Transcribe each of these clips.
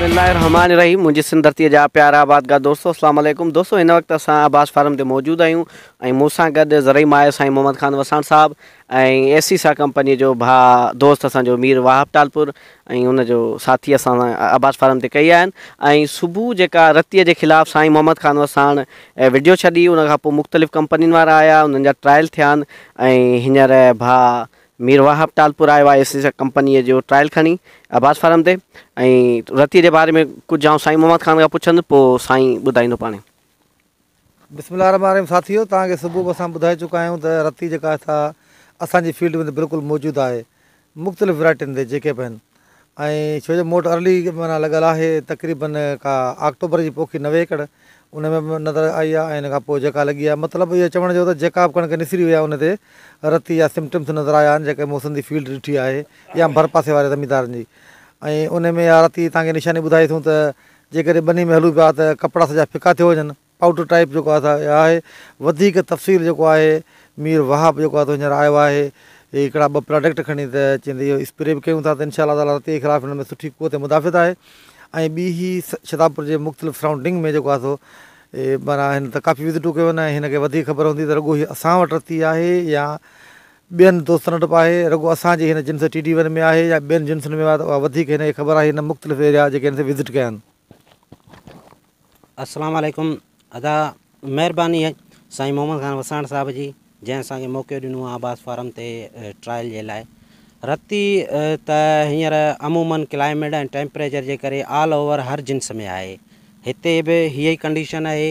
بسم الله الرحمٰن الرحيم منهنجي سنڌ ڌرتي جا پيارا آبادگار دوستو السلام عليڪم دوستو هن وقت اسان عباس فارم تي موجود آهيون ۽ مون سان گڏ زرعي ماهر سائين محمد خان وساڻ صاحب ۽ اي سي سا ڪمپني جو ڀا دوست اسان جو مير واهب ٽالپور ۽ ان جو ساٿي اسان عباس فارم تي ڪئي آهن ۽ صبح جيڪا رتي جي خلاف سائين محمد خان وساڻ وڊيو ڇڏي ان کان پوء مختلف ڪمپنين وارا آيا انهن جا ٽرائل ٿيا آهن ۽ هينئر ڀا مير واهب ٽالپور آيو آهي ايسيسا ڪمپنيء جو ٽرائل کڻي عباس فارم تي ۽ رتيء جي باري ۾ ڪجهه آئون سائين محمد خان کان پڇندس پوء سائين ٻڌائيندو پاڻهي. بسم الله الرحمٰن الرحيم ساٿيو توهان کي صبح به اسان ٻڌائي چڪا آهيون ته رتي جيڪا آهي سا اسان جي فيلڊ ۾ ته بلڪل موجود آهي مختلف ويرائٽين تي جيڪي به آهن ۽ ڇو جو موٽ ارلي معنيٰ لڳل آهي تقريباً ڪا آڪٽوبر جي پوکي نوي ايڪڙ ان ۾ به نظر آئي آهي ۽ ان کان پوء جيڪا لڳي آهي مطلب اهو چوڻ جو ته جيڪا به ڪڻڪ نسري وئي آهي ان تي رتي يا سمٽمس نظر آيا آهن جيڪي مون سنڌي فيلڊ ڏٺي آهي يا ڀر پاسي واري زميندارن جي ۽ ان ۾ اها رتي تانکي نشاني ٻڌائي ٿو ته جيڪڏهن ٻني ۾ هلون پيا ته ڪپڙا سڄا ڦڪا ٿيو وڃن آئوٽ ٽائيپ جيڪو آهي سا اها آهي وڌيڪ تفصيل جيڪو آهي مير وهاب جيڪو آهي سو هينئر آيو آهي هي هڪڙا ٻه پراڊڪٽ کڻي ته چئن ته اهو اسپري به ڪيون ٿا ته انشاء الله تعالٰي رتي جي خلاف هن ۾ سٺي قوت مدافعت آهي ۽ ٻي هي شتابپور جي مختلف سرائونڊنگ ۾ جيڪو آهي سو معنيٰ هن ته ڪافي وزٽون ڪيون آهن هن کي وڌيڪ خبر هوندي ته رڳو هي اسان وٽ رتي آهي يا ٻين دوستن وٽ به آهي رڳو اسانجي هن جنس ٽي ڊي ون ۾ آهي يا ٻين جنسن ۾ آهي ته اها وڌيڪ هن کي خبر آهي هن مختلف ايريا جيڪي هن سين وزٽ ڪيا آهن السلام عليڪم ادا مھرباني اھي سائين محمد خان وساڻ صاحب جي جنهن اسان کي موقعو ڏنو آ عباس فارم تي ٽرائل جي لاء رتي ته ھينئر عمومن ڪلائميڊ ۽ ٽيمپريچر جي ڪري آل اوور ھر جنس ۾ آھي ھتي به ھيئي ڪنڊيشن اھي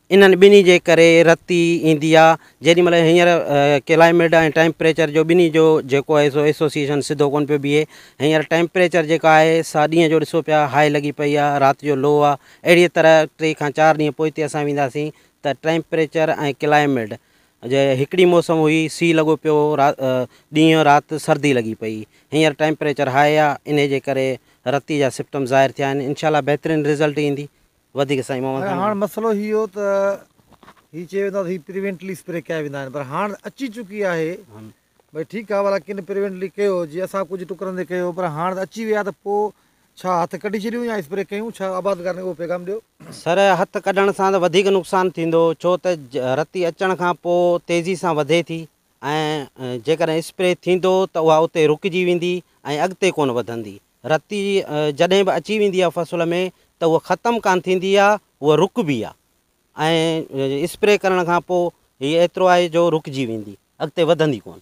انهن ٻنهي جي ڪري رتي ايندي آ جيڏي مهل هينئر ڪلائميڊ ۽ ٽيمپريچر جو ٻنهي جو جيڪو آهي سو ايسوسيئيشن سڌو ڪون پيو بيهي هينئر ٽيمپريچر جيڪا آهي سا ڏينهن جو ڏسو پيا هاء لڳي پئي آ رات جو لو آ اهڙيء طرح ٽي کان چار ڏينهن پوئتي اسان وينداسين ته ٽيمپريچر ۽ ڪلائميڊ جي هڪڙي موسم هئي سي لڳو پيو هو را ڏينهن رات سردي لڳي پئي هينئر ٽيمپريچر هاء آ انهي جي ڪري رتي جا سپٽم ظاهر ٿيا آهن انشاء الله بهترين رزلٽ ايندي وڌيڪ سائين محمد خان هاڻ مسئلو هي هو ته هي چيو ويندو آهي ته هي پريونٽلي اسپري ڪيا ويندا آهن پر هاڻ اچي چڪي آهي ڀئي ٺيڪ آهي والا ڪن پريونٽلي ڪيو جي اسان ڪجهه ٽڪرن تي ڪيو پر هاڻ اچي ويا ته پو ڇا هٿ ڪڍي ڇڏيون يا اسپري ڪيون ڇا آبادگارن کي اهو پيغام ڏيو. سر هٿ ڪڍڻ سان ته وڌيڪ نقصان ٿيندو ڇو ته رتي اچڻ کان پو تيزي سان وڌي ٿي ۽ جيڪڏهن اسپري ٿيندو ته اها اتي رڪجي ويندي ۽ اڳتي ڪونه وڌندي. رتي جڏهن به اچي ويندي آهي فصل ۾ ته اها ختم ڪانه ٿيندي آهي، اها رڪبي آهي ۽ اسپري ڪرڻ کان پوء هي ايترو آهي جو رڪجي ويندي، اڳتي وڌندي ڪونه.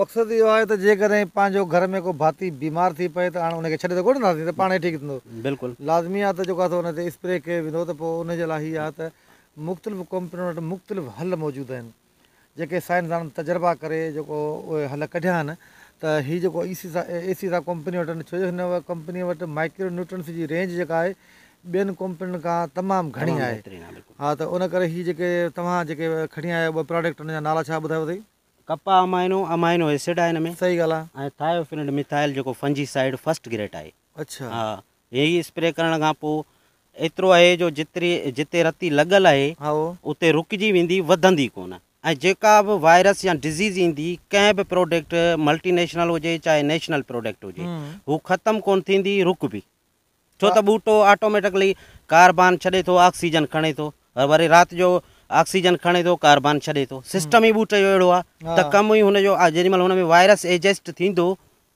مقصد اهو آهي ته جيڪڏهن پنهنجو گهر ۾ ڪو ڀاتي بيمار ٿي پئي ته هاڻ ان کي ڇڏي ته ڪونه ڏينداسين ته پاڻ هي ٺيڪ ٿيندو. بلڪل. لازمي آهي ته جيڪو آهي سو ان تي اسپري ڪيو ويندو ته پوء ان جي لاء هي آهي ته مختلف ڪمپنين وٽ مختلف حل موجود آهن. جيڪي سائنسدانن تجربا ڪري جيڪو اهي حل ڪڍيا آهن ته هي جيڪو ايسيسا ايسيسا ڪمپني وٽ آهن ڇو جو هن ڪمپني وٽ مائڪرو نيوٽرنس جي رينج جيڪا آهي ٻين ڪمپنين کان تمام گهڻي آهي ها ته ان ڪري هي جيڪي توهان جيڪي کڻي آيا آهيو ٻه پراڊڪٽ ان جا نالا ڇا ٻڌايو اٿئي. ڪپا امائنو امائنو ايسڊ آهي هن ۾ صحيح ڳالهه آهي. ۽ ٿائيوفينڊ ميٿائل جيڪو فنجي سائيڊ فرسٽ گريٽ آهي. اڇا ها هي اسپري ڪرڻ کان پو ايترو آهي جو جتري جتي رتي لڳل آهي هائو اتي رڪجي ويندي وڌندي ڪون ۽ جيڪا به وائرس يا ڊزيز ايندي ڪنهن به پروڊڪٽ ملٽي نيشنل هجي چاهي نيشنل پروڊڪٽ هجي هم هو ختم ڪون ٿيندي رڪبي ڇو ته ٻوٽو آٽوميٽڪلي ڪاربان ڇڏي ٿو آڪسيجن کڻي ٿو وري رات جو آڪسيجن کڻي ٿو ڪاربان ڇڏي ٿو هم سسٽم ئي ٻوٽي جو اهڙو آهي ته ها ڪم ئي هن جو آ جيڏي مهل هن ۾ وائرس ايجسٽ ٿيندو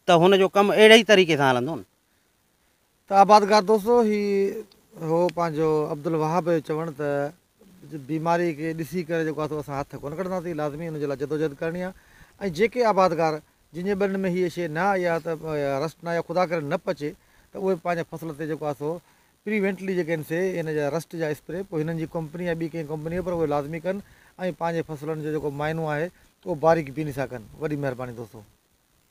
ته هن جو ڪم اهڙي ئي طريقي سان هلندو نه. ته آبادگار دوستو هي هو پنهنجو عبدالوهاب جو چوڻ ته بيماري کي ڏسي ڪري جيڪو آهي سو اسان هٿ ڪونه ڪڍنداسين لازمي ان جي لاء جدوجهد ڪرڻي آهي ۽ جيڪي آبادگار جن جي ٻنين ۾ هيء شيء نه آئي آهي ته رسٽ نه آئي آهي خدا ڪري نه پچي ته اهي پنهنجي فصل تي جيڪو آهي سو پريوينٽلي جيڪي آهن سي ان جا رسٽ جا اسپري پوء هنن جي ڪمپني يا ٻي ڪنهن ڪمپني پر اهي لازمي ڪن ۽ پنهنجي فصلن جو جيڪو معائنو آهي اهو باريڪ بيني سان ڪن وڏي مهرباني دوستو.